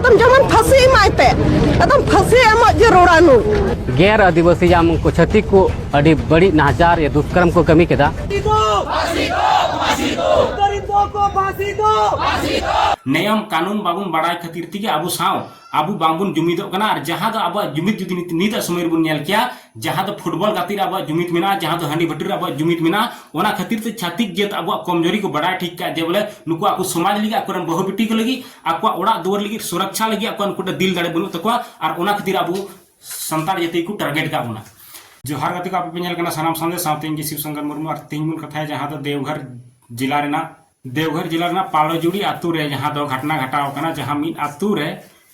ᱟᱫᱚᱢ ᱡᱮᱢᱚᱱ ᱯᱷᱟᱹᱥᱤ ᱮᱢᱟᱭ ᱯᱮ ᱟᱫᱚᱢ ᱯᱷᱟᱹᱥᱤ ᱮᱢᱚᱜ ᱡᱟᱹᱨᱩᱲᱟ ᱱᱩ ᱜᱮᱨ ᱟᱹᱫᱤᱵᱟᱹᱥᱤ ᱡᱟᱢ ᱩᱱᱠᱩ ᱪᱷᱟᱹᱛᱤᱠ ᱠᱚ ᱟᱹᱰᱤ ᱵᱟᱹᱲᱤᱡ ᱱᱟᱦᱟᱪᱟᱨ ᱭᱟ ᱫᱩᱥᱠᱨᱚᱢ ᱠᱚ ᱠᱟᱹᱢᱤ ᱠᱮᱫᱟ ᱱᱮᱭᱚᱢ ᱠᱟᱹᱱᱩᱱ ᱵᱟᱵᱚᱱ ᱵᱟᱲᱟᱭ ᱠᱷᱟᱹᱛᱤᱨ ᱛᱮᱜᱮ ᱟᱵᱚ ᱥᱟᱶ ᱟᱵᱚ ᱵᱟᱝᱵᱚᱱ ᱡᱩᱢᱤᱫᱚᱜ ᱠᱟᱱᱟ ᱟᱨ ᱡᱟᱦᱟᱸ ᱫᱚ ᱟᱵᱚᱣᱟᱜ ᱡᱩᱢᱤᱫ ᱡᱩᱫᱤ ᱱᱤᱛᱟᱜ ᱥᱚᱢᱚᱭ ᱨᱮᱵᱚᱱ ᱧᱮᱞ ᱠᱮᱭᱟ ᱡᱟᱦᱟᱸ ᱫᱚ ᱯᱷᱩᱴᱵᱚᱞ ᱜᱟᱛᱮᱜ ᱨᱮ ᱟᱵᱚᱣᱟᱜ ᱡᱩᱢᱤᱫ ᱢᱮᱱᱟᱜᱼᱟ ᱡᱟᱦᱟᱸ ᱫᱚ ᱦᱟᱺᱰᱤ ᱵᱷᱟᱹᱴᱤ ᱨᱮ ᱟᱵᱚᱣᱟᱜ ᱡᱩᱢᱤᱫ ᱢᱮᱱᱟᱜᱼᱟ ᱚᱱᱟ ᱠᱷᱟᱹᱛᱤᱨ ᱛᱮ ᱪᱷᱟᱛᱤᱠ ᱡᱟᱹᱛ ᱟᱵᱚᱣᱟᱜ ᱠᱚᱢᱡᱚᱨᱤ ᱠᱚ ᱵᱟᱰᱟᱭ ᱴᱷᱤᱠ ᱠᱟᱜᱼᱟ ᱡᱮ ᱵᱚᱞᱮ ᱱᱩᱠᱩ ᱟᱠᱚ ᱥᱚᱢᱟᱡᱽ ᱞᱟᱹᱜᱤᱫ ᱟᱠᱚᱨᱮᱱ ᱵᱟᱹᱦᱩ ᱵᱤᱴᱤ ᱠᱚ ᱞᱟᱹᱜᱤᱫ ᱟᱠᱚᱣᱟᱜ ᱚᱲᱟᱜ ᱫᱩᱣᱟᱹᱨ ᱞᱟᱹᱜᱤᱫ ᱥᱩᱨᱚᱠᱪᱷᱟ ᱞᱟᱹᱜᱤᱫ ᱟᱠᱚᱣᱟᱜ ᱩᱱᱠᱩ ᱫᱤᱞ ᱫᱟᱲᱮ ᱵᱟᱹᱱᱩᱜ ᱛᱟᱠᱚᱣᱟ ᱟᱨ ᱚᱱᱟ ᱠᱷᱟᱹᱛᱤᱨ ᱟᱵᱚ ᱥᱟᱱᱛᱟᱲ ᱡᱟᱹᱛᱤ ᱠᱚ ᱴᱟᱨᱜᱮᱴ ᱠᱟᱜ ᱵᱚᱱᱟ जोहार ᱜᱟᱛᱮ ᱠᱚ ᱟᱯᱮ ᱯᱮ ᱧᱮᱞ ᱠᱟᱱᱟ ᱥᱟᱱᱟᱢ ᱥᱟᱱᱫᱮ ᱥᱟᱶᱛᱮ ᱤᱧ ᱜᱮ ᱥᱤᱵ ᱥᱚᱝᱠᱚᱨ ᱢᱩᱨᱢᱩ ᱟᱨ ᱛᱮᱦᱮᱧ ᱵᱚᱱ ᱠᱟᱛᱷᱟᱭᱟ ᱡᱟᱦᱟᱸ ᱫᱚ ᱫᱮᱣᱜᱷᱚᱨ ᱡᱮᱞᱟ ᱨᱮᱱᱟᱜ ᱫᱮᱣᱜᱷᱚᱨ ᱡᱮᱞᱟ ᱨᱮᱱᱟᱜ ᱯᱟᱲᱚᱡᱩᱲᱤ ᱟᱛᱳ ᱨᱮ ᱡᱟᱦᱟᱸ ᱫᱚ ᱜᱷᱟᱴᱱᱟ ᱜᱷᱟᱴᱟᱣ ᱟᱠᱟᱱᱟ ᱡᱟᱦᱟᱸ ᱢᱤᱫ ᱟᱛᱳ ᱨᱮ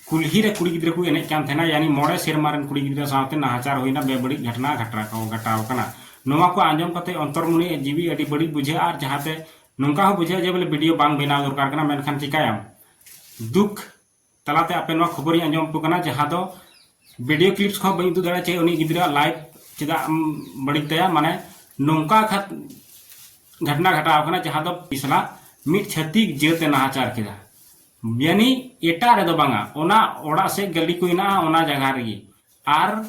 ᱠᱩᱞᱦᱤ ᱨᱮ ᱠᱩᱲᱤ ᱜᱤᱫᱽᱨᱟᱹ ᱠᱚ ᱮᱱᱮᱡ ᱠᱟᱱ ᱛᱟᱦᱮᱱᱟ ᱭᱟᱱᱤ ᱢᱚᱬᱮ ᱥᱮᱨᱢᱟ ᱨᱮᱱ ᱠᱩᱲᱤ ᱜᱤᱫᱽᱨᱟᱹ ᱥᱟᱶᱛᱮ ᱱᱟᱦᱟᱪᱟᱨ ᱦᱩᱭᱱᱟ ᱵᱮᱵᱟᱹᱲᱤᱡ ᱜᱷᱟᱴᱱᱟ ᱜᱷᱟᱴᱟᱣ ᱜᱷᱟᱴᱟᱣ ᱟᱠᱟᱱᱟ ᱱᱚᱣᱟ ᱠᱚ ᱟᱸᱡᱚᱢ ᱠᱟᱛᱮ ᱚᱱᱛᱚᱨᱢᱚᱱᱤ ᱡᱤᱣᱤ ᱟᱹᱰᱤ ᱵᱟᱹᱲᱤᱡ ᱵᱩᱡᱷᱟᱹᱜᱼᱟ ᱟᱨ ᱡᱟᱦᱟᱸᱛᱮ ᱱᱚᱝᱠᱟ ᱦᱚᱸ ᱵᱩᱡᱷᱟᱹᱜᱼᱟ ᱡᱮ ᱵᱚᱞᱮ ᱵᱷᱤᱰᱤᱭᱳ ᱵᱟᱝ ᱵᱮᱱᱟᱣ ᱫᱚᱨᱠᱟᱨ ᱠᱟᱱᱟ ᱢᱮᱱᱠᱷᱟᱱ ᱪᱤᱠᱟᱹᱭᱟᱢ ᱫᱩᱠ ᱛᱟᱞᱟᱛᱮ ᱟᱯᱮ ᱱᱚᱣᱟ ᱠᱷᱚᱵᱚᱨᱤᱧ ᱟᱸᱡᱚᱢ ᱟᱯᱮ ᱠᱟᱱᱟ ᱡᱟᱦᱟᱸ ᱫᱚ ᱵᱷᱤᱰᱤᱭᱳ ᱠᱞᱤᱯᱥ ᱠᱚᱦᱚᱸ ᱵᱟᱹᱧ ᱩᱫᱩᱜ ᱫᱟᱲᱮᱭᱟᱜᱼᱟ ᱪᱮᱫ ᱩᱱᱤ ᱜᱤᱫᱽᱨᱟᱹᱣᱟᱜ ᱞᱟᱭᱤᱯᱷ ᱪᱮᱫᱟᱜ ᱮᱢ ᱵᱟᱹᱲᱤᱡ ᱛᱟᱭᱟ ᱢᱟᱱᱮ ᱱᱚᱝᱠᱟ ᱠᱷᱟᱛ ᱜᱷᱚᱴᱱᱟ ᱜᱷᱟᱴᱟᱣ ᱠᱟᱱᱟ ᱡᱟᱦᱟᱸ ᱫᱚ ᱯᱤᱥᱞᱟ ᱢᱤᱫ ᱪᱷᱟᱹᱛᱤᱠ ᱡᱟᱹᱛᱮ ᱱᱟᱦᱟᱪᱟᱨ ᱠᱮᱫᱟ ᱭᱟᱱᱤ ᱮᱴᱟᱜ ᱨᱮᱫᱚ ᱵᱟᱝᱟ ᱚᱱᱟ ᱚᱲᱟᱜ ᱥᱮᱫ ᱜᱟᱹᱞᱤ ᱠᱚ ᱦᱮᱱᱟᱜᱼᱟ ᱚᱱᱟ ᱡᱟᱭᱜᱟ ᱨᱮᱜᱮ ᱟᱨ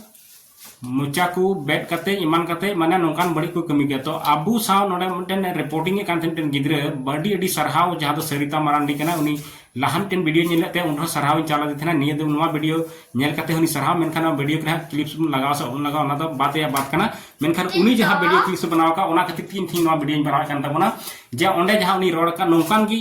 ᱢᱚᱪᱟ ᱠᱚ ᱵᱮᱫ ᱠᱟᱛᱮ ᱮᱢᱟᱱ ᱠᱟᱛᱮ ᱢᱟᱱᱮ ᱱᱚᱝᱠᱟᱱ ᱵᱟᱹᱲᱤᱡ ᱠᱚ ᱠᱟᱹᱢᱤ ᱜᱮᱭᱟ ᱛᱚ ᱟᱵᱚ ᱥᱟᱶ ᱱᱚᱰᱮ ᱢᱤᱫᱴᱮᱱ ᱨᱤᱯᱳᱨᱴᱤᱝ ᱮᱫ ᱠᱟᱱ ᱛᱟᱦᱮᱸ ᱢᱤᱫᱴᱮᱱ ᱜᱤᱫᱽᱨᱟᱹ ᱟᱹᱰᱤ ᱟᱹᱰᱤ ᱥᱟᱨᱦᱟᱣ ᱡᱟᱦᱟᱸ ᱫᱚ ᱥᱟᱹᱨᱤᱛᱟ ᱢᱟᱨᱟᱱᱰᱤ ᱠᱟᱱᱟ ᱩᱱᱤ ᱞᱟᱦᱟ ᱢᱤᱫᱴᱮᱱ ᱵᱷᱤᱰᱤᱭᱳ ᱧᱮᱞᱮᱫ ᱛᱟᱦᱮᱸ ᱩᱱᱨᱮᱦᱚᱸ ᱥᱟᱨᱦᱟᱣ ᱤᱧ ᱪᱟᱞᱟᱫᱮ ᱛᱟᱦᱮᱱᱟ ᱱᱤᱭᱟᱹ ᱫᱚ ᱱᱚᱣᱟ ᱵᱷᱤᱰᱤᱭᱳ ᱧᱮᱞ ᱠᱟᱛᱮ ᱦᱚᱸ ᱩᱱᱤ ᱥᱟᱨᱦᱟᱣ ᱢᱮᱱᱠᱷᱟᱱ ᱱᱚᱣᱟ ᱵᱷᱤᱰᱤᱭᱳ ᱠᱚᱨᱮ ᱠᱞᱤᱯᱥ ᱵᱚᱱ ᱞᱟᱜᱟᱣ ᱥᱮ ᱵᱟᱵᱚᱱ ᱞᱟᱜᱟᱣ ᱚᱱᱟ ᱫᱚ ᱵᱟᱫ ᱨᱮᱭᱟᱜ ᱵᱟᱫ ᱠᱟᱱᱟ ᱢᱮᱱᱠᱷᱟᱱ ᱩᱱᱤ ᱡᱟᱦᱟᱸ ᱵᱷᱤᱰᱤᱭᱳ ᱠᱞᱤᱯᱥ ᱵᱮᱱᱟᱣ ᱟᱠᱟᱫ ᱚᱱᱟ ᱠᱷᱟᱹᱛᱤᱨ ᱛᱮ ᱤᱧ ᱛᱮᱦᱮᱧ ᱱᱚᱣᱟ ᱵᱷᱤᱰᱤᱭᱳᱧ ᱵᱮᱱᱟᱣᱮᱫ ᱠᱟᱱ ᱛᱟᱵᱚᱱᱟ ᱡᱮ ᱚᱸᱰᱮ ᱡᱟᱦᱟᱸ ᱩᱱᱤ ᱨᱚᱲ ᱟᱠᱟᱫ ᱱᱚᱝᱠᱟᱱ ᱜᱮ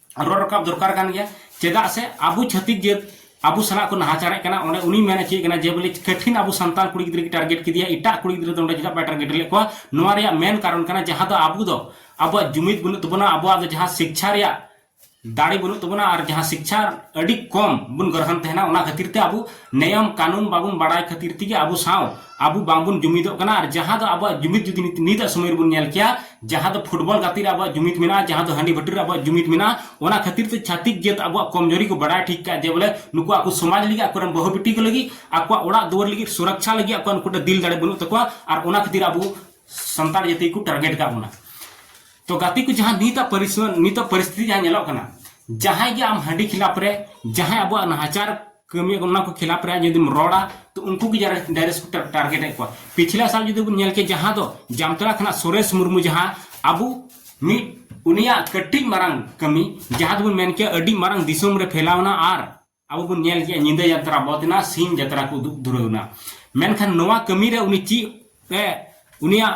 ᱨᱚᱲ ᱨᱟᱠᱟᱵ ᱫᱚᱨᱠᱟᱨ ᱠᱟᱱ ᱜᱮᱭᱟ ᱪᱮᱫᱟᱜ ᱥᱮ ᱟᱵᱚ ᱪᱷᱟᱹᱛᱤᱠ ᱡᱟᱹᱛ ᱟᱵᱚ ᱥᱟᱞᱟᱜ ᱠᱚ ᱱᱟᱦᱟᱪᱟᱨᱮᱫ ᱠᱟᱱᱟ ᱚᱸᱰᱮ ᱩᱱᱤ ᱢᱮᱱ ᱦᱚᱪᱚᱭᱮᱫ ᱠᱟᱱᱟ ᱡᱮ ᱵᱚᱞᱮ ᱠᱟᱹᱴᱷᱤᱱ ᱟᱵᱚ ᱥᱟᱱᱛᱟᱲ ᱠᱩᱲᱤ ᱜᱤᱫᱽᱨᱟᱹ ᱜᱮ ᱴᱟᱨᱜᱮᱴ ᱠᱮᱫᱮᱭᱟ ᱮᱴᱟᱜ ᱠᱩᱲᱤ ᱜᱤᱫᱽᱨᱟᱹ ᱫᱚ ᱚᱸᱰᱮ ᱪᱮᱫᱟᱜ ᱵᱟᱭ ᱴᱟᱨᱜᱮᱴ ᱞᱮᱫ ᱠᱚᱣᱟ ᱱᱚᱣᱟ ᱨᱮᱭᱟᱜ ᱢᱮᱱ ᱠᱟᱨᱚᱱ ᱠᱟᱱᱟ ᱡᱟᱦᱟᱸ ᱫᱚ ᱟᱵᱚ ᱫᱚ ᱟᱵᱚᱣᱟᱜ ᱡᱩᱢᱤᱫ ᱵᱟᱹᱱᱩᱜ ᱛᱟᱵᱚᱱᱟ ᱟᱵᱚᱣᱟᱜ ᱫᱚ ᱡᱟᱦᱟᱸ ᱥᱤᱠᱪᱷᱟ ᱨᱮᱭᱟᱜ ᱫᱟᱲᱮ ᱵᱟᱹᱱᱩᱜ ᱛᱟᱵᱚᱱᱟ ᱟᱨ ᱡᱟᱦᱟᱸ ᱥᱤᱠᱪᱷᱟ ᱟᱹᱰᱤ ᱠᱚᱢ ᱵᱚᱱ ᱜᱨᱚᱦᱚᱱ ᱛᱟᱦᱮᱱᱟ ᱚᱱᱟ ᱠᱷᱟᱹᱛᱤᱨ ᱛᱮ ᱟᱵᱚ ᱱᱮᱭᱚᱢ ᱠᱟᱹᱱᱩᱱ ᱵᱟᱵᱚᱱ ᱵᱟᱲᱟᱭ ᱠᱷᱟᱹᱛᱤᱨ ᱛᱮᱜᱮ ᱟᱵᱚ ᱥᱟᱶ ᱟᱵᱚ ᱵᱟᱝᱵᱚᱱ ᱡᱩᱢᱤᱫᱚᱜ ᱠᱟᱱᱟ ᱟᱨ ᱡᱟᱦᱟᱸ ᱫᱚ ᱟᱵᱚᱣᱟᱜ ᱡᱩᱢᱤᱫ ᱡᱩᱫᱤ ᱱᱤᱛᱟᱜ ᱥᱚᱢᱚᱭ ᱨᱮᱵᱚᱱ ᱧᱮᱞ ᱠᱮᱭᱟ ᱡᱟᱦᱟᱸ ᱫᱚ ᱯᱷᱩᱴᱵᱚᱞ ᱜᱟᱛᱮᱜ ᱨᱮ ᱟᱵᱚᱣᱟᱜ ᱡᱩᱢᱤᱫ ᱢᱮᱱᱟᱜᱼᱟ ᱡᱟᱦᱟᱸ ᱫᱚ ᱦᱟᱺᱰᱤ ᱵᱷᱟᱹᱴᱤ ᱨᱮ ᱟᱵᱚᱣᱟᱜ ᱡᱩᱢᱤᱫ ᱢᱮᱱᱟᱜᱼᱟ ᱚᱱᱟ ᱠᱷᱟᱹᱛᱤᱨ ᱛᱮ ᱪᱷᱟᱛᱤᱠ ᱡᱟᱹᱛ ᱟᱵᱚᱣᱟᱜ ᱠᱚᱢᱡᱚᱨᱤ ᱠᱚ ᱵᱟᱰᱟᱭ ᱴᱷᱤᱠ ᱠᱟᱜᱼᱟ ᱡᱮ ᱵᱚᱞᱮ ᱱᱩᱠᱩ ᱟᱠᱚ ᱥᱚᱢᱟᱡᱽ ᱞᱟᱹᱜᱤᱫ ᱟᱠᱚᱨᱮᱱ ᱵᱟᱹᱦᱩ ᱵᱤᱴᱤ ᱠᱚ ᱞᱟᱹᱜᱤᱫ ᱟᱠᱚᱣᱟᱜ ᱚᱲᱟᱜ ᱫᱩᱣᱟᱹᱨ ᱞᱟᱹᱜᱤᱫ ᱥᱩᱨᱚᱠᱪᱷᱟ ᱞᱟᱹᱜᱤᱫ ᱟᱠᱚᱣᱟᱜ ᱱᱩᱠᱩᱴᱟᱜ ᱫᱤᱞ ᱫᱟᱲᱮ ᱵᱟᱹᱱᱩᱜ ᱛᱟᱠᱚᱣᱟ ᱟᱨ ᱚᱱᱟ ᱠᱷᱟᱹᱛᱤᱨ ᱟᱵᱚ ᱥᱟᱱᱛᱟᱲ ᱡᱟᱹᱛᱤ ᱠᱚ ᱴᱟᱨᱜᱮᱴ ᱠᱟᱜ ᱵᱚᱱᱟ ᱛᱚ ᱜᱟᱛᱮ ᱠᱚ ᱡᱟᱦᱟᱸ ᱱᱤᱛᱟᱜ ᱯᱚᱨᱤᱥᱛᱷᱤᱛᱤ ᱱᱤᱛᱟᱜ ᱯᱚᱨᱤᱥᱛᱷᱤᱛᱤ ᱡᱟᱦᱟᱸ ᱧᱮᱞᱚᱜ ᱠᱟᱱᱟ ᱡᱟᱦᱟᱸᱭ ᱜᱮ ᱟᱢ ᱦᱟᱺᱰᱤ ᱠᱷᱤᱞᱟᱯ ᱨᱮ ᱡᱟᱦᱟᱸᱭ ᱟᱵᱚᱣᱟᱜ ᱱᱟᱦᱟᱪᱟᱨ ᱠᱟᱹᱢᱤ ᱚᱱᱟ ᱠᱚ ᱠᱷᱤᱞᱟᱯ ᱨᱮ ᱡᱩᱫᱤᱢ ᱨᱚᱲᱟ ᱛᱚ ᱩᱱᱠᱩ ᱜᱮ ᱰᱟᱭᱨᱮᱠᱴ ᱠᱚ ᱴᱟᱨᱜᱮᱴ ᱮᱫ ᱠᱚᱣᱟ ᱯᱤᱪᱷᱞᱟ ᱥᱟᱞ ᱡᱩᱫᱤ ᱵᱚᱱ ᱧᱮᱞ ᱠᱮ ᱡᱟᱦᱟᱸ ᱫᱚ ᱡᱟᱢᱛᱟᱲᱟ ᱠᱷᱚᱱᱟᱜ ᱥᱩᱨᱮᱥ ᱢᱩᱨᱢᱩ ᱡᱟᱦᱟᱸ ᱟᱵᱚ ᱢᱤᱫ ᱩᱱᱤᱭᱟᱜ ᱠᱟᱹᱴᱤᱡ ᱢᱟᱨᱟᱝ ᱠᱟᱹᱢᱤ ᱡᱟᱦᱟᱸ ᱫᱚᱵᱚᱱ ᱢᱮᱱ ᱠᱮᱭᱟ ᱟᱹᱰᱤ ᱢᱟᱨᱟᱝ ᱫᱤᱥᱚᱢ ᱨᱮ ᱯᱷᱮᱞᱟᱣᱱᱟ ᱟᱨ ᱟᱵᱚ ᱵᱚᱱ ᱧᱮᱞ ᱠᱮᱭᱟ ᱧᱤᱫᱟᱹ ᱡᱟᱛᱨᱟ ᱵᱚᱫ ᱮᱱᱟ ᱥᱤᱧ ᱡᱟᱛᱨᱟ ᱠᱚ ᱩᱫᱩᱜ ᱫᱷᱩᱨᱟᱹᱣ ᱮᱱᱟ ᱢᱮᱱᱠᱷᱟᱱ ᱱᱚᱣᱟ ᱠᱟᱹᱢᱤ ᱨᱮ ᱩᱱᱤ ᱪᱮᱫ ᱮ ᱩᱱᱤᱭᱟᱜ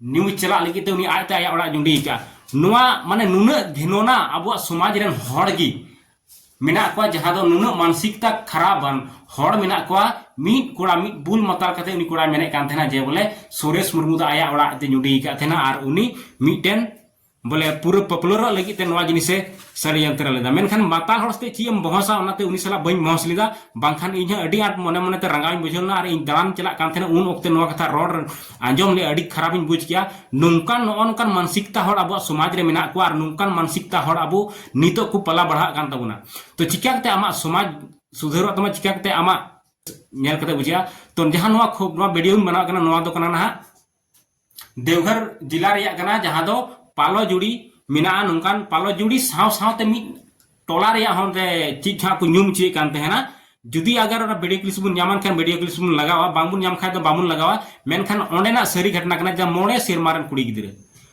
ᱱᱤᱭᱩᱡᱽ ᱪᱟᱞᱟᱜ ᱞᱟᱹᱜᱤᱫ ᱛᱮ ᱩᱱᱤ ᱟᱡᱛᱮ ᱟᱭᱟᱜ ᱚᱲᱟᱜ ᱡᱩᱸᱰᱤ ᱟᱠᱟᱫᱼᱟ ᱱᱚᱣᱟ ᱢᱟᱱᱮ ᱱᱩᱱᱟᱹᱜ ᱜᱷᱤᱱᱚᱱᱟ ᱟᱵᱚᱣᱟᱜ ᱥᱚᱢᱟᱡᱽ ᱨᱮᱱ ᱦᱚᱲ ᱜᱮ ᱢᱮᱱᱟᱜ ᱠᱚᱣᱟ ᱡᱟᱦᱟᱸ ᱫᱚ ᱱᱩᱱᱟᱹᱜ ᱢᱟᱱᱥᱤᱠᱛᱟ ᱠᱷᱟᱨᱟᱯᱟᱱ ᱦᱚᱲ ᱢᱮᱱᱟᱜ ᱠᱚᱣᱟ ᱢᱤᱫ ᱠᱚᱲᱟ ᱢᱤᱫ ᱵᱩᱞ ᱢᱟᱛᱟᱞ ᱠᱟᱛᱮ ᱩᱱᱤ ᱠᱚᱲᱟᱭ ᱢᱮᱱᱮᱫ ᱠᱟᱱ ᱛᱟᱦᱮᱱᱟ ᱡᱮ ᱵᱚᱞᱮ ᱥᱩᱨᱮᱥ ᱢᱩᱨᱢᱩ ᱫᱚ ᱟᱭᱟᱜ ᱚᱲᱟᱜ ᱛᱮ ᱡᱩᱸᱰᱤ ᱟᱠᱟᱫ ᱛᱟᱦᱮᱱᱟ ᱟᱨ ᱩᱱᱤ ᱢᱤᱫᱴᱮᱱ ᱵᱚᱞᱮ ᱯᱩᱨᱟᱹ ᱯᱚᱯᱩᱞᱟᱨᱚᱜ ᱞᱟᱹᱜᱤᱫ ᱛᱮ ᱱᱚᱣᱟ ᱡᱤᱱᱤᱥᱮ ᱥᱟᱹᱲᱤᱭᱟᱱᱛᱨᱟ ᱞᱮᱫᱟ ᱢᱮᱱᱠᱷᱟᱱ ᱢᱟᱛᱟᱞ ᱦᱚᱲ ᱥᱟᱛᱮ ᱪᱮᱫ ᱮᱢ ᱵᱚᱦᱚᱥᱟ ᱚᱱᱟᱛᱮ ᱩᱱᱤ ᱥᱟᱞᱟᱜ ᱵᱟᱹᱧ ᱵᱚᱦᱚᱥ ᱞᱮᱫᱟ ᱵᱟᱝᱠᱷᱟᱱ ᱤᱧ ᱦᱚᱸ ᱟᱹᱰᱤ ᱟᱸᱴ ᱢᱚᱱᱮ ᱢᱚᱱᱮᱛᱮ ᱨᱟᱸᱜᱟᱣᱤᱧ ᱵᱩᱡᱷᱟᱹᱣ ᱞᱮᱱᱟ ᱟᱨ ᱤᱧ ᱫᱟᱬᱟᱱ ᱪᱟᱞᱟᱜ ᱠᱟᱱ ᱛᱟᱦᱮᱱᱟ ᱩᱱ ᱚᱠᱛᱮ ᱱᱚᱣᱟ ᱠᱟᱛᱷᱟ ᱨᱚᱲ ᱟᱸᱡᱚᱢ ᱞᱮ ᱟᱹᱰᱤ ᱠᱷᱟᱨᱟᱯᱤᱧ ᱵᱩᱡᱽ ᱠᱮᱜᱼᱟ ᱱᱚᱝᱠᱟᱱ ᱱᱚᱜᱼᱚ ᱱᱚᱝᱠᱟᱱ ᱢᱟᱱᱥᱤᱠᱛᱟ ᱦᱚᱲ ᱟᱵᱚᱣᱟᱜ ᱥᱚᱢᱟᱡᱽ ᱨᱮ ᱢᱮᱱᱟᱜ ᱠᱚᱣᱟ ᱟᱨ ᱱᱚᱝᱠᱟᱱ ᱢᱟᱱᱥᱤᱠᱛᱟ ᱦᱚᱲ ᱟᱵᱚ ᱱᱤᱛᱚᱜ ᱠᱚ ᱯᱟᱞᱟ ᱵᱟᱲᱦᱟᱜ ᱠᱟᱱ ᱛᱟᱵᱚᱱᱟ ᱛᱚ ᱪᱤᱠᱟ ᱠᱟᱛᱮ ᱟᱢᱟᱜ ᱥᱚᱢᱟᱡᱽ ᱥᱩᱫᱷᱟᱹᱨᱚᱜ ᱛᱟᱢᱟ ᱪᱤᱠᱟ ᱠᱟᱛᱮ ᱟᱢᱟᱜ ᱧᱮᱞ ᱠᱟᱛᱮ ᱵᱩᱡᱷᱟᱹᱜᱼᱟ ᱛᱚ ᱡᱟᱦᱟᱸ ᱱᱚᱣᱟ ᱱᱚᱣᱟ ᱵᱷᱤᱰᱤᱭᱳᱧ ᱵᱮᱱᱟᱣ ᱠᱟᱱᱟ ᱱᱚᱣᱟ ᱫᱚ ᱠᱟᱱᱟ ᱱᱟᱦᱟᱜ देवघर जिला ᱨᱮᱭᱟᱜ ᱠᱟᱱᱟ ᱡᱟᱦᱟᱸ ᱫᱚ ᱯᱟᱞᱚ ᱡᱩᱲᱤ ᱢᱮᱱᱟᱜᱼᱟ ᱱᱚᱝᱠᱟᱱ ᱯᱟᱞᱚ ᱡᱩᱲᱤ ᱥᱟᱶ ᱥᱟᱶᱛᱮ ᱢᱤᱫ ᱴᱚᱞᱟ ᱨᱮᱭᱟᱜ ᱦᱚᱸ ᱚᱸᱰᱮ ᱪᱮᱫ ᱡᱟᱦᱟᱸ ᱠᱚ ᱧᱩᱢ ᱦᱚᱪᱚᱭᱮᱫ ᱠᱟᱱ ᱛᱟᱦᱮᱱᱟ ᱡᱩᱫᱤ ᱟᱜᱟᱨ ᱚᱱᱟ ᱵᱷᱤᱰᱤᱭᱳ ᱠᱞᱤᱯ ᱵᱚᱱ ᱧᱟᱢᱟᱱ ᱠᱷᱟᱱ ᱵᱷᱤᱰᱤᱭᱳ ᱠᱞᱤᱯ ᱵᱚᱱ ᱞᱟᱜᱟᱣᱟ ᱵᱟᱝᱵᱚᱱ ᱧᱟᱢ ᱠᱷᱟᱱ ᱫᱚ ᱵᱟᱵᱚᱱ ᱞᱟᱜᱟᱣᱟ ᱢᱮᱱᱠᱷᱟᱱ ᱚᱸᱰᱮᱱᱟᱜ ᱥᱟᱹᱨᱤ ᱜᱷᱚᱴᱱᱟ ᱠᱟᱱᱟ ᱡᱟᱦᱟᱸ ᱢᱚᱬᱮ ᱥᱮᱨᱢᱟ ᱨᱮᱱ ᱠᱩᱲᱤ ᱜᱤᱫᱽᱨᱟᱹ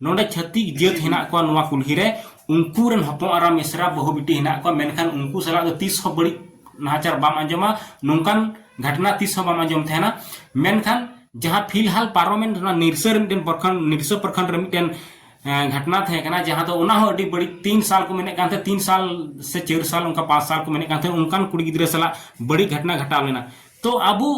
ᱱᱚᱰᱮ ᱪᱷᱟᱹᱛᱤᱠ ᱡᱟᱹᱛ ᱦᱮᱱᱟᱜ ᱠᱚᱣᱟ ᱱᱚᱣᱟ ᱠᱩᱞᱦᱤ ᱨᱮ ᱩᱱᱠᱩ ᱨᱮᱱ ᱦᱚᱯᱚᱱ ᱟᱨᱟ ᱢᱤᱥᱨᱟ ᱵᱟᱹᱦᱩ ᱵᱤᱴᱤ ᱦᱮᱱᱟᱜ ᱠᱚᱣᱟ ᱢᱮᱱᱠᱷᱟᱱ ᱩᱱᱠᱩ ᱥᱟᱞᱟᱜ ᱫᱚ ᱛᱤᱥ ᱦᱚᱸ ᱵᱟᱹᱲᱤᱡ ᱱᱟᱦᱟᱪᱟᱨ ᱵᱟᱢ ᱟᱸᱡᱚᱢᱟ ᱱᱚᱝᱠᱟᱱ ᱜᱷᱟᱴᱱᱟ ᱛᱤᱥ ᱦᱚᱸ ᱵᱟᱢ ᱟᱸᱡᱚᱢ ᱛᱟᱦᱮᱱᱟ ᱢᱮᱱᱠᱷᱟᱱ ᱡᱟᱦᱟᱸ ᱯᱷᱤᱞᱦᱟᱞ ᱯᱟᱨᱚᱢᱮᱱ ᱚᱱᱟ ᱱᱤᱨᱥᱟᱹ ᱨᱮ ᱢᱤᱫᱴᱮᱱ ᱯᱨᱚᱠᱷᱚᱸᱰ ᱱᱤᱨᱥᱟᱹ ᱯᱨᱚᱠᱷᱚᱸᱰ ᱨᱮ ᱢᱤᱫᱴᱮᱱ ᱜᱷᱟᱴᱱᱟ ᱛᱟᱦᱮᱸ ᱠᱟᱱᱟ ᱡᱟᱦᱟᱸ ᱫᱚ ᱚᱱᱟ ᱦᱚᱸ ᱟᱹᱰᱤ ᱵᱟᱹᱲᱤᱡ ᱛᱤᱱ ᱥᱟᱞ ᱠᱚ ᱢᱮᱱᱮᱫ ᱠᱟᱱ ᱛᱟᱦᱮᱸ ᱛᱤᱱ ᱥᱟᱞ ᱥᱮ ᱪᱟᱹᱨ ᱥᱟᱞ ᱚᱱᱠᱟ ᱯᱟᱸᱪ ᱥᱟᱞ ᱠᱚ ᱢᱮᱱᱮᱫ ᱠᱟᱱ ᱛᱟᱦᱮᱸ ᱚᱱᱠᱟᱱ ᱠᱩᱲᱤ ᱜᱤᱫᱽᱨᱟᱹ ᱥᱟᱞᱟᱜ ᱵᱟᱹᱲᱤᱡ ᱜᱷᱟᱴᱱᱟ ᱜᱷᱟᱴᱟᱣ ᱞᱮᱱᱟ ᱛᱚ ᱟᱵᱚ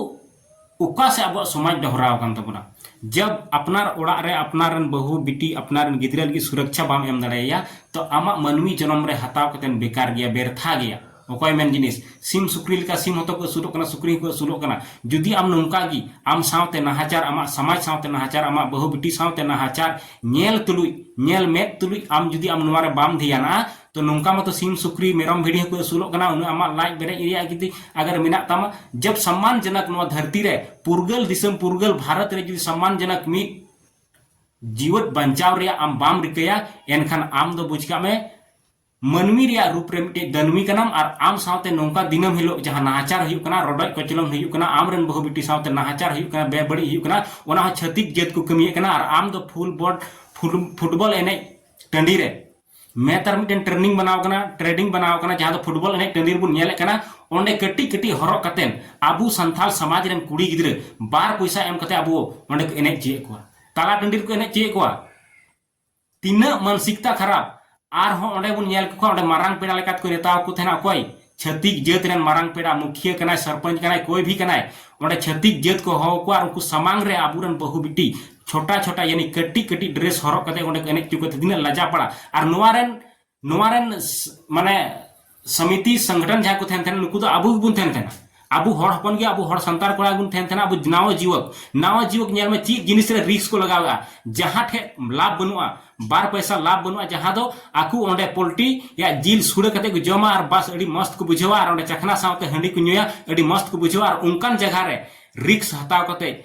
ᱚᱠᱟ ᱥᱮ ᱟᱵᱚᱣᱟᱜ ᱥᱚᱢᱟᱡᱽ ᱰᱚᱦᱨᱟᱣ ᱟᱠᱟᱱ ᱛᱟᱵᱚᱱᱟ ᱡᱟᱵ ᱟᱯᱱᱟᱨ ᱚᱲᱟᱜ ᱨᱮ ᱟᱯᱱᱟᱨ ᱨᱮᱱ ᱵᱟᱹᱦᱩ ᱵᱤᱴᱤ ᱟᱯᱱᱟᱨ ᱨᱮᱱ ᱜᱤᱫᱽᱨᱟᱹ ᱞᱟᱹᱜᱤᱫ ᱥᱩᱨᱚᱠᱪᱷᱟ ᱵᱟᱢ ᱮᱢ ᱫᱟᱲᱮᱭᱟᱭᱟ ᱛᱚ ᱟᱢᱟᱜ ᱢᱟᱹᱱᱢᱤ ᱡᱚᱱᱚᱢ ᱨᱮ ᱦᱟᱛᱟᱣ ᱠᱟᱛᱮ ᱵᱮᱠᱟᱨ ᱜᱮᱭᱟ ᱵᱮᱨᱛᱷᱟ ᱜᱮᱭᱟ ᱚᱠᱚᱭ ᱢᱮᱱ ᱡᱤᱱᱤᱥ ᱥᱤᱢ ᱥᱩᱠᱨᱤ ᱞᱮᱠᱟ ᱥᱤᱢ ᱦᱚᱸᱛᱚ ᱠᱚ ᱟᱹᱥᱩᱞᱚᱜ ᱠᱟᱱᱟ ᱥᱩᱠᱨᱤ ᱦᱚᱸᱠᱚ ᱟᱹᱥᱩᱞᱚᱜ ᱠᱟᱱᱟ ᱡᱩᱫᱤ ᱟᱢ ᱱᱚᱝᱠᱟ ᱜᱮ ᱟᱢ ᱥᱟᱶᱛᱮ ᱱᱟᱦᱟᱪᱟᱨ ᱟᱢᱟᱜ ᱥᱚᱢᱟᱡᱽ ᱥᱟᱶᱛᱮ ᱱᱟᱦᱟᱪᱟᱨ ᱟᱢᱟᱜ ᱵᱟᱹᱦᱩ ᱵᱤᱴᱤ ᱥᱟᱶᱛᱮ ᱱᱟᱦᱟᱪᱟᱨ ᱧᱮᱞ ᱛᱩᱞᱩᱡ ᱧᱮᱞ ᱢᱮᱫ ᱛᱩᱞᱩᱡ ᱟᱢ ᱡᱩᱫᱤ ᱟᱢ ᱱᱚᱣᱟ ᱨᱮ ᱵᱟᱢ ᱫᱷᱮᱭᱟᱱᱟᱜᱼᱟ ᱛᱚ ᱱᱚᱝᱠᱟ ᱢᱟᱛᱚ ᱥᱤᱢ ᱥᱩᱠᱨᱤ ᱢᱮᱨᱚᱢ ᱵᱷᱤᱰᱤ ᱦᱚᱸᱠᱚ ᱟᱹᱥᱩᱞᱚᱜ ᱠᱟᱱᱟ ᱩᱱᱟᱹᱜ ᱟᱢᱟᱜ ᱞᱟᱡ ᱵᱮᱨᱮᱡ ᱨᱮᱭᱟᱜ ᱡᱩᱫᱤ ᱟᱜᱟᱨ ᱢᱮᱱᱟᱜ ᱛᱟᱢᱟ ᱡᱚᱵ ᱥᱚᱢᱢᱟᱱ ᱡᱚᱱᱚᱠ ᱱᱚᱣᱟ ᱫᱷᱟᱹᱨᱛᱤ ᱨᱮ ᱯᱩᱨᱜᱟᱹᱞ ᱫᱤᱥᱚᱢ ᱯᱩᱨᱜᱟᱹᱞ ᱵᱷᱟᱨᱚᱛ ᱨᱮ ᱡᱩᱫᱤ ᱥᱚᱢᱢᱟᱱ ᱡᱚᱱᱚᱠ ᱢᱤᱫ ᱡᱤᱣᱮᱫ ᱵᱟᱧᱪᱟᱣ ᱨᱮᱭᱟᱜ ᱟᱢ ᱵᱟᱢ ᱨᱤᱠᱟᱹᱭᱟ ᱮᱱᱠᱷᱟᱱ ᱟᱢ ᱫᱚ ᱵᱩᱡᱽ ᱠᱟᱜ ᱢᱮ ᱢᱟᱹᱱᱢᱤ ᱨᱮᱭᱟᱜ ᱨᱩᱯ ᱨᱮ ᱢᱤᱫᱴᱮᱡ ᱫᱟᱹᱱᱢᱤ ᱠᱟᱱᱟᱢ ᱟᱨ ᱟᱢ ᱥᱟᱶᱛᱮ ᱱᱚᱝᱠᱟ ᱫᱤᱱᱟᱹᱢ ᱦᱤᱞᱳᱜ ᱡᱟᱦᱟᱸ ᱱᱟᱦᱟᱪᱟᱨ ᱦᱩᱭᱩᱜ ᱠᱟᱱᱟ ᱨᱚᱰᱚᱡ ᱠᱚᱪᱞᱚᱱ ᱦᱩᱭᱩᱜ ᱠᱟᱱᱟ ᱟᱢ ᱨᱮᱱ ᱵᱟᱹᱦᱩ ᱵᱤᱴᱤ ᱥᱟᱶᱛᱮ ᱱᱟᱦᱟᱪᱟᱨ ᱦᱩᱭᱩᱜ ᱠᱟᱱᱟ ᱵᱮᱵᱟᱹᱲᱤᱡ ᱦᱩᱭᱩᱜ ᱠᱟᱱᱟ ᱚᱱᱟ ᱦᱚᱸ ᱪᱷᱟᱹᱛᱤᱠ ᱡᱟᱹᱛ ᱠᱚ ᱠᱟᱹᱢᱤᱭᱮᱫ ᱠᱟᱱᱟ ᱟᱨ ᱟᱢ ᱫᱚ ᱯᱷᱩᱞ ᱵᱚᱰ ᱯᱷᱩᱴᱵᱚᱞ ᱮᱱᱮᱡ ᱴᱟᱺᱰᱤ ᱨᱮ ᱢᱮᱛᱟᱨ ᱢᱤᱫᱴᱮᱱ ᱴᱨᱮᱱᱤᱝ ᱵᱮᱱᱟᱣ ᱠᱟᱱᱟ ᱴᱨᱮᱰᱤᱝ ᱵᱮᱱᱟᱣ ᱠᱟᱱᱟ ᱡᱟᱦᱟᱸ ᱫᱚ ᱯᱷᱩᱴᱵᱚᱞ ᱮᱱᱮᱡ ᱴᱟᱺᱰᱤ ᱨᱮᱵᱚᱱ ᱧᱮᱞᱮᱫ ᱠᱟᱱᱟ ᱚᱸᱰᱮ ᱠᱟᱹᱴᱤᱡ ᱠᱟᱹᱴᱤᱡ ᱦᱚᱨᱚᱜ ᱠᱟᱛᱮᱱ ᱟᱵᱚ ᱥᱟᱱᱛᱟᱲ ᱥᱚᱢᱟᱡᱽ ᱨᱮᱱ ᱠᱩᱲᱤ ᱜᱤᱫᱽᱨᱟᱹ ᱵᱟᱨ ᱯᱚᱭᱥᱟ ᱮᱢ ᱠᱟᱛᱮ ᱟᱵᱚ ᱚᱸᱰᱮ ᱠᱚ ᱮᱱᱮᱡ ᱪᱚᱭᱮᱫ ᱠᱚᱣᱟ ᱛᱟᱞᱟ ᱴᱟᱺᱰᱤ ᱨᱮᱠᱚ ᱮᱱᱮᱡ ᱪᱚᱭᱮᱫ ᱠᱚᱣᱟ ᱛᱤᱱᱟᱹᱜ ᱢᱟᱱᱥᱤᱠᱛᱟ ᱠᱷᱟᱨᱟᱯ ᱟᱨᱦᱚᱸ ᱚᱸᱰᱮ ᱵᱚᱱ ᱧᱮᱞ ᱠᱚ ᱠᱷᱟᱱ ᱚᱸᱰᱮ ᱢᱟᱨᱟᱝ ᱯᱮᱲᱟ ᱞᱮᱠᱟᱛᱮ ᱠᱚ ᱱᱮᱛᱟᱣ ᱠᱚ ᱛᱟᱦᱮᱱᱟ ᱚᱠᱚᱭ ᱪᱷᱟᱹᱛᱤᱠ ᱡᱟᱹᱛ ᱨᱮᱱ ᱢᱟᱨᱟᱝ ᱯᱮᱲᱟ ᱢᱩᱠᱷᱤᱭᱟᱹ ᱠᱟᱱᱟᱭ ᱥᱚᱨᱯᱚᱧᱪ ᱠᱟᱱᱟᱭ ᱠᱚᱭ ᱵᱷᱤ ᱠᱟᱱᱟᱭ ᱚᱸᱰᱮ ᱪᱷᱟᱹᱛᱤᱠ ᱡᱟᱹᱛ ᱠᱚ ᱦᱚᱦᱚ ᱠᱚᱣᱟ ᱟᱨ ᱩᱱᱠᱩ ᱥᱟᱢᱟᱝ ᱨᱮ ᱟᱵᱚ ᱨᱮᱱ ᱵᱟᱹᱦᱩ ᱵᱤᱴᱤ ᱪᱷᱚᱴᱟ ᱪᱷᱚᱴᱟ ᱭᱟᱱᱤ ᱠᱟᱹᱴᱤᱡ ᱠᱟᱹᱴᱤᱡ ᱰᱨᱮᱥ ᱦᱚᱨᱚᱜ ᱠᱟᱛᱮ ᱚᱸᱰᱮ ᱠᱚ ᱮᱱᱮᱡ ᱪᱚ ᱠᱟᱛᱮ ᱛᱤᱱᱟᱹᱜ ᱞᱟᱡᱟ ᱯᱟᱲᱟ ᱟᱨ ᱱᱚᱣᱟ ᱨᱮᱱ ᱱᱚᱣᱟ ᱨᱮᱱ ᱢᱟᱱᱮ ᱥᱚᱢᱤᱛᱤ ᱥᱚᱝᱜᱚᱴᱷᱚᱱ ᱡᱟᱦᱟᱸ ᱠᱚ ᱛᱟᱦᱮᱱ ᱛᱟᱦᱮᱱᱟ ᱱᱩᱠᱩ ᱫᱚ ᱟᱵᱚ ᱜᱮᱵᱚᱱ ᱛᱟᱦᱮᱱ ᱛᱟᱦᱮᱱᱟ ᱟᱵᱚ ᱦᱚᱲ ᱦᱚᱯᱚᱱ ᱜᱮ ᱟᱵᱚ ᱦᱚᱲ ᱥᱟᱱᱛᱟᱲ ᱠᱚᱲᱟ ᱵᱚᱱ ᱛᱟᱦᱮᱱ ᱛᱟᱦᱮᱱᱟ ᱟᱵᱚ ᱱᱟᱣᱟ ᱡᱩᱣᱟᱹᱠ ᱱᱟᱣᱟ ᱡᱩᱣᱟᱹᱠ ᱧᱮᱞ ᱢᱮ ᱪᱮᱫ ᱡᱤᱱᱤᱥ ᱨᱮ ᱨᱤᱥᱠ ᱠᱚ ᱞᱟᱜᱟᱣᱮᱜᱼᱟ ᱡᱟᱦᱟᱸ ᱴᱷᱮᱡ ᱞᱟᱵᱷ ᱵᱟᱹᱱᱩᱜᱼᱟ ᱵᱟᱨ ᱯᱚᱭᱥᱟ ᱞᱟᱵᱷ ᱵᱟᱹᱱᱩᱜᱼᱟ ᱡᱟᱦᱟᱸ ᱫᱚ ᱟᱠᱚ ᱚᱸᱰᱮ ᱯᱳᱞᱴᱤ ᱭᱟ ᱡᱤᱞ ᱥᱩᱲᱟᱹ ᱠᱟᱛᱮ ᱠᱚ ᱡᱚᱢᱟ ᱟᱨ ᱵᱟᱥ ᱟᱹᱰᱤ ᱢᱚᱥᱛ ᱠᱚ ᱵᱩᱡᱷᱟᱹᱣᱟ ᱟᱨ ᱚᱸᱰᱮ ᱪᱟᱠᱷᱱᱟ ᱥᱟᱶᱛᱮ ᱦᱟᱺᱰᱤ ᱠᱚ ᱧᱩᱭᱟ ᱟᱹᱰᱤ ᱢᱚᱥᱛ ᱠᱚ ᱵᱩᱡᱷᱟᱹᱣᱟ ᱟᱨ ᱚᱱᱠᱟᱱ ᱡᱟᱭᱜᱟ ᱨᱮ ᱨᱤᱠᱥ ᱦᱟᱛᱟᱣ ᱠᱟᱛᱮ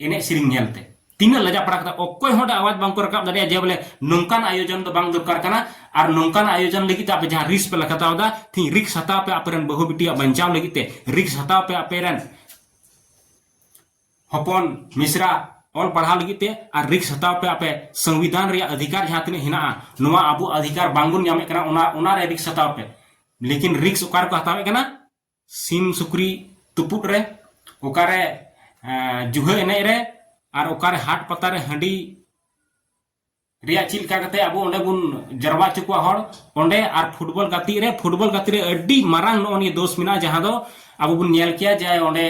ᱮᱱᱮᱡ ᱥᱮᱨᱮᱧ ᱧᱮᱞᱛᱮ ᱛᱤᱱᱟᱹᱜ ᱞᱟᱡᱟ ᱯᱟᱲᱟ ᱠᱟᱛᱮ ᱚᱠᱚᱭ ᱦᱚᱸ ᱟᱣᱟᱡᱽ ᱵᱟᱝ ᱠᱚ ᱨᱟᱠᱟᱵ ᱫᱟᱲᱮᱭᱟᱜᱼᱟ ᱡᱮ ᱵᱚᱞᱮ ᱱᱚᱝᱠᱟᱱ ᱟᱭᱳᱡᱚᱱ ᱫᱚ ᱵᱟᱝ ᱫᱚᱨᱠᱟᱨ ᱠᱟᱱᱟ ᱟᱨ ᱱᱚᱝᱠᱟᱱ ᱟᱭᱳᱡᱚᱱ ᱞᱟᱹᱜᱤᱫ ᱛᱮ ᱟᱯᱮ ᱡᱟᱦᱟᱸ ᱨᱤᱥ ᱯᱮ ᱦᱟᱛᱟᱣ ᱮᱫᱟ ᱛᱤᱦᱤᱧ ᱨᱤᱠᱥ ᱦᱟᱛᱟᱣ ᱯᱮ ᱟᱯᱮᱨᱮᱱ ᱵᱟᱹᱦᱩ ᱵᱤᱴᱤᱭᱟᱜ ᱵᱟᱧᱪᱟᱣ ᱞᱟᱹᱜᱤᱫ ᱛᱮ ᱨᱤᱠᱥ ᱦᱟᱛᱟᱣ ᱯᱮ ᱟᱯᱮᱨᱮᱱ ᱦᱚᱯᱚᱱ ᱢᱤᱥᱨᱟ ᱚᱞ ᱯᱟᱲᱦᱟᱣ ᱞᱟᱹᱜᱤᱫ ᱛᱮ ᱟᱨ ᱨᱤᱠᱥ ᱦᱟᱛᱟᱣ ᱯᱮ ᱟᱯᱮ ᱥᱚᱝᱵᱤᱫᱷᱟᱱ ᱨᱮᱭᱟᱜ ᱚᱫᱷᱤᱠᱟᱨ ᱡᱟᱦᱟᱸ ᱛᱤᱱᱟᱹᱜ ᱦᱮᱱᱟᱜᱼᱟ ᱱᱚᱣᱟ ᱟᱵᱚ ᱚᱫᱷᱤᱠᱟᱨ ᱵᱟᱝᱵᱚᱱ ᱧᱟᱢᱮᱫ ᱠᱟᱱᱟ ᱚᱱᱟ ᱚᱱᱟᱨᱮ ᱨᱤᱠᱥ ᱦᱟᱛᱟᱣ ᱯᱮ ᱞᱮᱠᱤᱱ ᱨᱤᱠᱥ ᱚᱠᱟ ᱨᱮᱠᱚ ᱦᱟᱛᱟᱣᱮᱫ ᱠᱟᱱᱟ ᱥᱤᱢ ᱥᱩᱠᱨᱤ ᱛᱩᱯᱩᱫ ᱨᱮ ᱚᱠᱟᱨᱮ ᱡᱩᱦᱟᱹ ᱮᱱᱮᱡ ᱨᱮ ᱟᱨ ᱚᱠᱟᱨᱮ ᱦᱟᱴ ᱯᱟᱛᱟ ᱨᱮ ᱦᱟᱺᱰᱤ ᱨᱮᱭᱟᱜ ᱪᱮᱫ ᱞᱮᱠᱟ ᱠᱟᱛᱮ ᱟᱵᱚ ᱚᱸᱰᱮ ᱵᱚᱱ ᱡᱟᱨᱣᱟ ᱦᱚᱪᱚ ᱠᱚᱣᱟ ᱦᱚᱲ ᱚᱸᱰᱮ ᱟᱨ ᱯᱷᱩᱴᱵᱚᱞ ᱜᱟᱛᱮᱜ ᱨᱮ ᱯᱷᱩᱴᱵᱚᱞ ᱜᱟᱛᱮᱜ ᱨᱮ ᱟᱹᱰᱤ ᱢᱟᱨᱟᱝ ᱱᱚᱜᱼᱚ ᱱᱤᱭᱟᱹ ᱫᱳᱥ ᱢᱮᱱᱟᱜᱼᱟ ᱡᱟᱦᱟᱸ ᱫᱚ ᱟᱵᱚ ᱵᱚᱱ ᱧᱮᱞ ᱠᱮᱭᱟ ᱡᱮ ᱚᱸᱰᱮ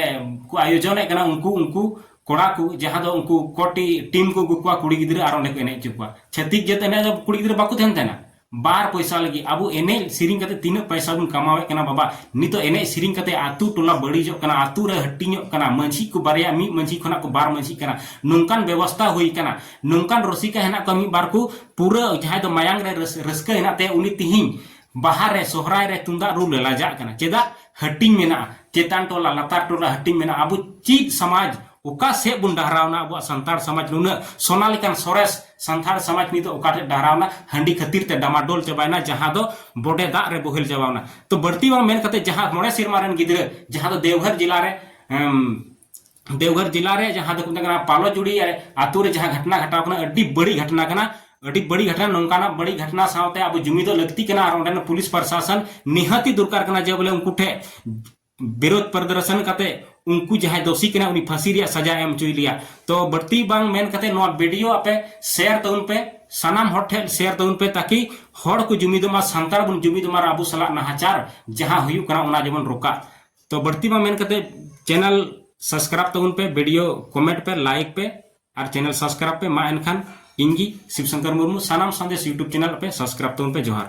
ᱠᱚ ᱟᱭᱳᱡᱚᱱᱮᱫ ᱠᱟᱱᱟ ᱩᱱᱠᱩ ᱩᱱᱠᱩ ᱠᱚᱲᱟ ᱠᱚ ᱡᱟᱦᱟᱸ ᱫᱚ ᱩᱱᱠᱩ ᱠᱚᱴᱤ ᱴᱤᱢ ᱠᱚ ᱟᱹᱜᱩ ᱠᱚᱣᱟ ᱠᱩᱲᱤ ᱜᱤᱫᱽᱨᱟᱹ ᱟᱨ ᱚᱸᱰᱮ ᱠᱚ ᱮᱱᱮᱡ ᱦᱚᱪᱚ ᱠᱚᱣᱟ ᱪᱷᱟᱹᱛᱤᱠ ᱡᱟᱹᱛ ᱮᱱᱮᱡ ᱫᱚ ᱠᱩᱲᱤ ᱜᱤᱫᱽᱨᱟᱹ ᱵᱟᱠᱚ ᱛᱟᱦᱮᱱ ᱛᱟᱦᱮᱱᱟ ᱵᱟᱨ ᱯᱚᱭᱥᱟ ᱞᱟᱹᱜᱤᱫ ᱟᱵᱚ ᱮᱱᱮᱡ ᱥᱮᱨᱮᱧ ᱠᱟᱛᱮ ᱛᱤᱱᱟᱹᱜ ᱯᱚᱭᱥᱟ ᱵᱚᱱ ᱠᱟᱢᱟᱣᱮᱫ ᱠᱟᱱᱟ ᱵᱟᱵᱟ ᱱᱤᱛᱚᱜ ᱮᱱᱮᱡ ᱥᱮᱨᱮᱧ ᱠᱟᱛᱮ ᱟᱛᱳ ᱴᱚᱞᱟ ᱵᱟᱹᱲᱤᱡᱚᱜ ᱠᱟᱱᱟ ᱟᱛᱳ ᱨᱮ ᱦᱟᱹᱴᱤᱧᱚᱜ ᱠᱟᱱᱟ ᱢᱟᱹᱡᱷᱤ ᱠᱚ ᱵᱟᱨᱭᱟ ᱢᱤᱫ ᱢᱟᱹᱡᱷᱤ ᱠᱷᱚᱱᱟᱜ ᱠᱚ ᱵᱟᱨ ᱢᱟᱹᱡᱷᱤᱜ ᱠᱟᱱᱟ ᱱᱚᱝᱠᱟᱱ ᱵᱮᱵᱚᱥᱛᱟ ᱦᱩᱭ ᱠᱟᱱᱟ ᱱᱚᱝᱠᱟन ᱨᱚᱥᱤᱠᱟ ᱦᱮᱱᱟᱜ ᱠᱚᱣᱟ ᱢᱤᱫ ᱵᱟᱨ ᱠᱚ ᱯᱩᱨᱟᱹ ᱡᱟᱦᱟᱸᱭ ᱫᱚ ᱢᱟᱭᱟᱝ ᱨᱮ ᱨᱟᱹᱥᱠᱟᱹ ᱦᱮᱱᱟᱜ ᱛᱟᱭᱟ ᱩᱱᱤ ᱛᱤᱦᱤᱧ ᱵᱟᱦᱟ ᱨᱮ ᱥᱚᱦᱨᱟᱭ ᱨᱮ ᱛᱩᱢᱫᱟᱜ ᱨᱩ ᱞᱟᱡᱟᱜ ᱠᱟᱱᱟ ᱪᱮᱫᱟᱜ ᱦᱟᱹᱴᱤᱧ ᱢᱮᱱᱟᱜᱼᱟ ᱪᱮᱛᱟᱱ ᱴᱚᱞᱟ ᱞᱟᱛᱟᱨ ᱴᱚᱞᱟ ᱦᱟᱹᱴᱤᱧ ᱢᱮᱱᱟᱜᱼᱟ ᱟᱵᱚ ᱪᱮᱫ ᱥᱚᱢᱟᱡᱽ ᱚᱠᱟ ᱥᱮᱫ ᱵᱚᱱ ᱰᱟᱦᱨᱟᱣᱱᱟ ᱟᱵᱚᱣᱟᱜ ᱥᱟᱱᱛᱟᱲ ᱥᱚᱢᱟᱡᱽ ᱱᱩᱱᱟᱹᱜ ᱥᱚᱱᱟ ᱞᱮᱠᱟᱱ ᱥᱚᱨᱮᱥ ᱥᱟᱱᱛᱟᱲ ᱥᱚᱢᱟᱡᱽ ᱱᱤᱛᱚᱜ ᱚᱠᱟ ᱴᱷᱮᱱ ᱰᱟᱦᱨᱟᱣᱱᱟ ᱦᱟᱺᱰᱤ ᱠᱷᱟᱹᱛᱤᱨ ᱛᱮ ᱰᱟᱢᱟᱰᱳᱞ ᱪᱟᱵᱟᱭᱱᱟ ᱡᱟᱦᱟᱸ ᱫᱚ ᱵᱚᱰᱮ ᱫᱟᱜ ᱨᱮ ᱵᱚᱦᱮᱞ ᱪᱟᱵᱟᱣᱱᱟ ᱛᱚ ᱵᱟᱹᱲᱛᱤ ᱵᱟᱝ ᱢᱮᱱ ᱠᱟᱛᱮ ᱡᱟᱦᱟᱸ ᱢᱚᱬᱮ ᱥᱮᱨᱢᱟ ᱨᱮᱱ ᱜᱤᱫᱽᱨᱟᱹ ᱡᱟᱦᱟᱸ ᱫᱚ ᱫᱮᱣᱜᱷᱚᱨ ᱡᱮᱞᱟ ᱨᱮ ᱫᱮᱣᱜᱷᱚᱨ ᱡᱮᱞᱟ ᱨᱮ ᱡᱟᱦᱟᱸ ᱫᱚ ᱢᱮᱛᱟᱜ ᱠᱟᱱᱟ ᱯᱟᱞᱚ ᱡᱩᱲᱤ ᱟᱛᱳ ᱨᱮ ᱡᱟᱦᱟᱸ ᱜᱷᱚᱴᱱᱟ ᱜᱷᱟᱴᱟᱣ ᱠᱟᱱᱟ ᱟᱹᱰᱤ ᱵᱟᱹᱲᱤᱡ ᱜᱷᱚᱴᱱᱟ ᱠᱟᱱᱟ ᱟᱹᱰᱤ ᱵᱟᱹᱲᱤᱡ ᱜᱷᱚᱴᱱᱟ ᱱᱚᱝᱠᱟᱱᱟᱜ ᱵᱟᱹᱲᱤᱡ ᱜᱷᱚᱴᱱᱟ ᱥᱟᱶᱛᱮ ᱟᱵᱚ ᱡᱩᱢᱤᱫᱚᱜ ᱞᱟᱹᱠᱛᱤ ᱠᱟᱱᱟ ᱟᱨ ᱚᱸᱰᱮᱱ ᱯᱩᱞᱤᱥ ᱯᱨᱚᱥᱟᱥᱚᱱ ᱱᱤᱦᱟᱹᱛᱤ ᱫᱚᱨᱠᱟᱨ ᱠᱟᱱᱟ ᱡᱮ ᱵᱚᱞᱮ ᱩᱱᱠᱩ ᱴᱷᱮᱱ ᱵᱤᱨᱳᱫᱷ ᱯᱨᱚᱫᱚᱨᱥᱚᱱ ᱠᱟᱛᱮ ᱩᱱᱠᱩ ᱡᱟᱦᱟᱸᱭ ᱫᱳᱥᱤ ᱠᱟᱱᱟ ᱩᱱᱤ ᱯᱷᱟᱹᱥᱤ ᱨᱮᱭᱟᱜ ᱥᱟᱡᱟ ᱮᱢ ᱦᱚᱪᱚᱭ ᱞᱮᱭᱟ ᱛᱚ ᱵᱟᱹᱲᱛᱤ ᱵᱟᱝ ᱢᱮᱱ ᱠᱟᱛᱮ ᱱᱚᱣᱟ ᱵᱷᱤᱰᱤᱭᱳ ᱟᱯᱮ ᱥᱮᱭᱟᱨ ᱛᱟᱵᱚᱱ ᱯᱮ ᱥᱟᱱᱟᱢ ᱦᱚᱲ ᱴᱷᱮᱱ ᱥᱮᱭᱟᱨ ᱛᱟᱵᱚᱱ ᱯᱮ ᱛᱟᱠᱤ ᱦᱚᱲ ᱠᱚ ᱡᱩᱢᱤᱫᱚᱜ ᱢᱟ ᱥᱟᱱᱛᱟᱲ ᱵᱚᱱ ᱡᱩᱢᱤᱫᱚᱜ ᱢᱟ ᱟᱵᱚ ᱥᱟᱞᱟᱜ ᱱᱟᱦᱟᱪᱟᱨ ᱡᱟᱦᱟᱸ ᱦᱩᱭᱩᱜ ᱠᱟᱱᱟ ᱚᱱᱟ ᱡᱮᱢᱚᱱ ᱨᱚᱠᱟ ᱛᱚ ᱵᱟᱹᱲᱛᱤ ᱵᱟᱝ ᱢᱮᱱ ᱠᱟᱛᱮ ᱪᱮᱱᱮᱞ ᱥᱟᱵᱥᱠᱨᱟᱭᱤᱵ ᱛᱟᱵᱚᱱ ᱯᱮ ᱵᱷᱤᱰᱤᱭᱳ ᱠᱚᱢᱮᱱᱴ ᱯᱮ ᱞᱟᱭᱤᱠ ᱯᱮ ᱟᱨ ᱪᱮᱱᱮᱞ ᱥᱟᱵᱥᱠᱨᱟᱭᱤᱵ ᱯᱮ ᱢᱟ ᱮᱱᱠᱷᱟᱱ ᱤᱧ ᱜᱮ ᱥᱤᱵ ᱥᱚᱝᱠᱚᱨ ᱢᱩᱨᱢᱩ ᱥᱟᱱᱟᱢ ᱥᱟᱸᱫᱮᱥ ᱤᱭᱩᱴᱩᱵᱽ ᱪᱮᱱᱮᱞ ᱯᱮ ᱥᱟᱵᱥᱠᱨᱟᱭᱤᱵ ᱛᱟᱵᱚᱱ ᱯᱮ ᱡᱚᱦᱟᱨ